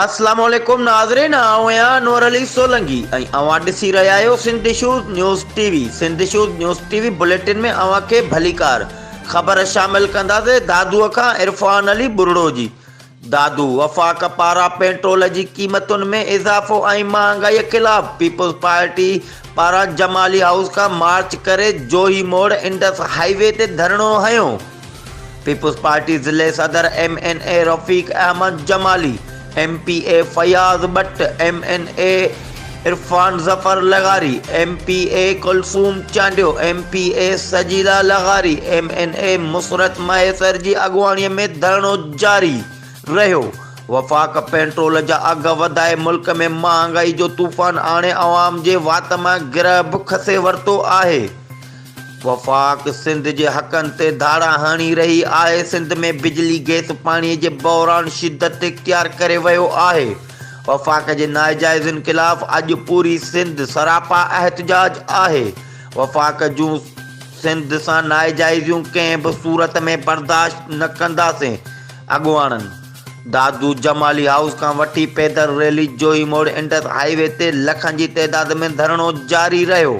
السلام عليڪم ناظرين آئون آهيان انور علي سولنگي ۽ اوهان ڏسي رهيا آهيو Sindh issues news TV Sindh issues news TV bulletin ۾ اوهان کي ڀليڪار خبر شامل ڪنداسين دادو کان عرفان علي ٻرڙو جي دادو وفاق پارا پيٽرول جي قيمتن ۾ اضافو ۽ مهانگائي خلاف پيپلز پارٽي پارا جمالي هائوس کان مارچ ڪري جوهي موڙ انڊس هاء وي تي ڌرڻو هنيو پيپلز پارٽي ضلعي صدر ايم اين اي رفيق احمد جمالي، ايم پي اي فياض ٻٽ، ايم اين اي عرفان ظفر لغاري، ايم پي اي ڪلثوم چانڊيو، ايم پي اي سجيلا لغاري، ايم اين اي مسرت مهيسر جي اڳواڻي ۾ ڌرڻو جاري رهيو، وفاق پينٽرول جا اگهه وڌائي ملڪ ۾ مهانگائي جو طوفان آڻي عوام جي وات مان گرهه به کسي ورتو آهي. وفاق سنڌ جي حقن تي ڌاڙا هڻي رهي آهي، سنڌ ۾ بجلي، گئس، پاڻي جي بحران شدت اختيار ڪري ويو آهي، وفاق جي ناجائزين خلاف اڄ پوري سنڌ سراپا احتجاج آهي، وفاق جون سنڌ سان ناجائزيون ڪنهن به صورت ۾ برداشت نه ڪنداسين، اڳواڻن دادو جمالي هائوس کان وٺي پيدل ريلي جوهي موڙ انڊس هاء وي تي لکن جي تعداد ۾ ڌرڻو جاري رهيو،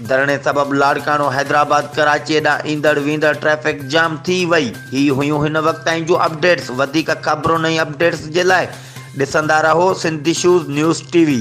ڌرڻي سبب لاڙڪاڻو حيدرآباد ڪراچي ڏانهن ايندڙ ويندڙ ٽريفڪ جام ٿي وئي. هي هيون هن وقت تائين جون اپڊيٽس وڌيڪ خبرن ۽ اپڊيٽس جي لاء ڏسندا رهو سنڌ ايشوز نيوز ٽي وي.